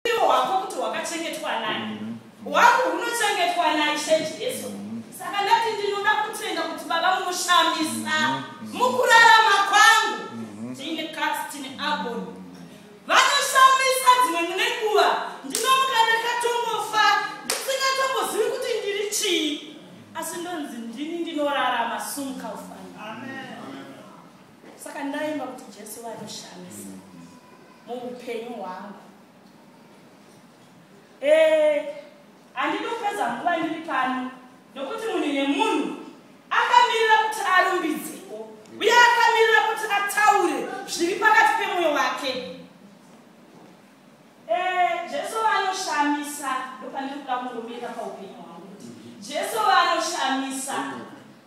Upenyu hwako kuti hwakachengetwa nani? Mhm. Hwangu hunochengetwa naIshe Jesu. Mhm. Saka ndati ndinoda kutenda kuti Baba munoshamisa mhm. mukurarama kwangu. Tine Katsi, tine Aboni. Vanoshamisa dzimwe mune nguva ndinomuka ndakatongofa ndisingatongozivi kuti ndiri chii asi ndonzi ndini ndinorarama sumka ufa saka ndaimba kuti jesu vanoshamisa muupenyu hwangu eh, handidi kupedza nguva ndiri pano nokuti munhu nemunhu akamirira kuti arumbidzewo uye akamirira kuti ataure zviri pakati pemwoyo wake eh, jesu vanoshamisa ndopandiri kuda kungomira paupenyu hwangu jesu vanoshamisa mm -hmm.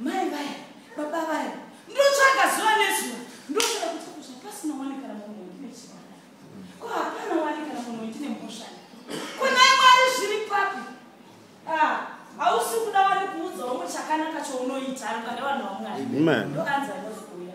Mai vaya, baba vaya, ndotsvaga zuva nezuva, ndotsvaga kuti kusha pasina wani kana munhu wendine chibara. Ko hapana wani kana munhu wendine mhosva. Ko naye Mwari zviri papi? Ah, hausi kuda wani kuudza umwe chakanaka chounoita ari pane vanhu vaMwari. Amen. Ndokanzi anozouya.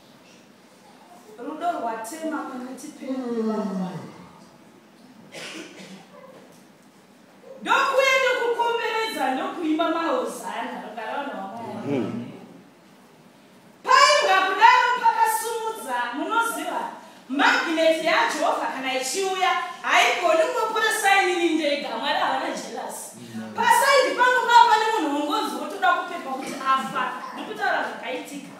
rudo rwatema kumuti pemuvamwari ndokuya ndokukomberedza ndokuimba mahozana rugara vanhu vamwari hmm. painga kudaro pakasumudza munoziva magineti yajehovha kana ichiuya haigoni kuporesainini ndega mwari havana jelasi hmm. pasaidi pangu paa pane munhu wongonzi wotoda kupepa kuti afa ndikutaura zvakaitika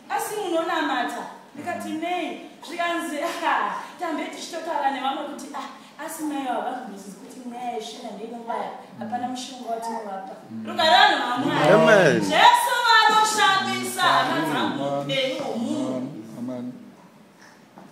asi munonamata ndikati nei zvikanzi tambe tichitotaura nevamwe kuti ah, asi mai vavazvimisizi kuti nyaya yeshina ndeinobaya hapana mushonga watinovapa mm. rugarano hamwari jesu vanoshandisa hama dzangu upenyu hwomunhu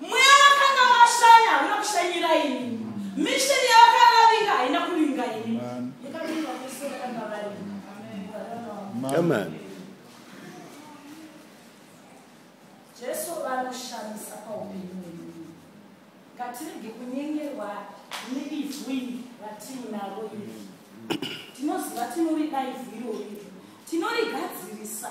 mweya wakanga washanya hauna kushanyira ini misheni yavakaravinga haina kuvinga ini jesu vanoshamisa paupenyu wemunhu ngatirege kunyengerwa neivhu iri ratiinaro iri tinoziva tinoridaivhu irori tinorigadzirisa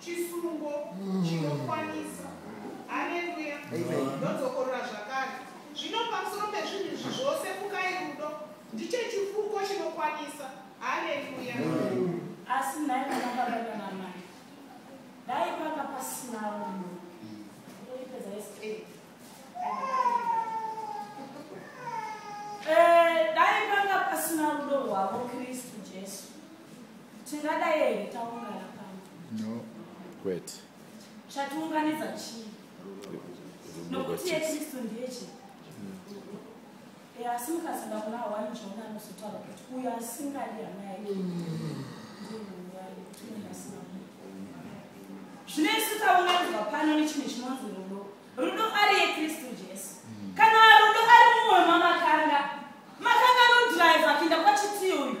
chisungo mm. chinokwanisa haleluya ndodzokorora zvakare zvino pamusoro pezvinhu izvi zvose fukai rudo ndicho chifuko chinokwanisa haleluya asi nhai vanababaga namai dai panga pasinawo munhu oipedza yese eh, dai panga pasina rudo rwavo kristu jesu Tingadai here taungana pano? No. Kwete. Chatiunganidza chii? Nokuti yeKristu ndiye chii? Asi mukazoda kuna hawani Jona anozotaura kuti uyo asingadi hama yake zvino isu taunganidzwa pano nechinhu chinonzi rudo rudo ari yekristu jesu kana rudo ari mumwe mamakanga makanga nodrive kuenda kwachitiyo uyu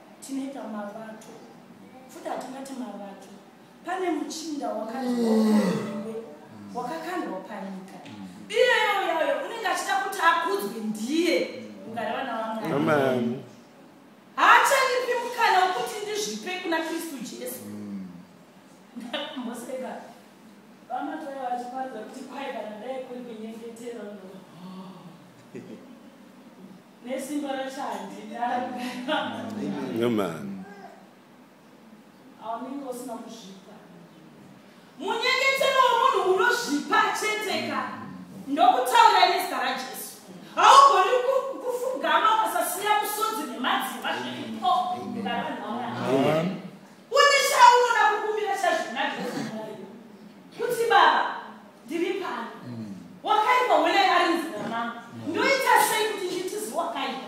tinoita mavato futi hatingati mavato pane muchinda wakaziwakaiwe wakakandwa panyika iyeyo yayo unenge achida kuti akudzwe ndiye ungari vana vamwari haachanipi mukana wekuti ndizvipe kuna kristu jesu mm. ndakamboseka vamatai vachiparidza kuti kwai kana ndai kuri kunyengetera nesimba racho handinaaman aunenge usina kuzvipa munyengetero wemunhu unozvipa cheteka ndokutaura nezita rajesu haugoni kufugama ukasasiya musodzi nemadzimba zviripo ngaranhaona ndiri pano wakaipa wena ari nzira mangu ndoita sei kuti nditizi wakaipa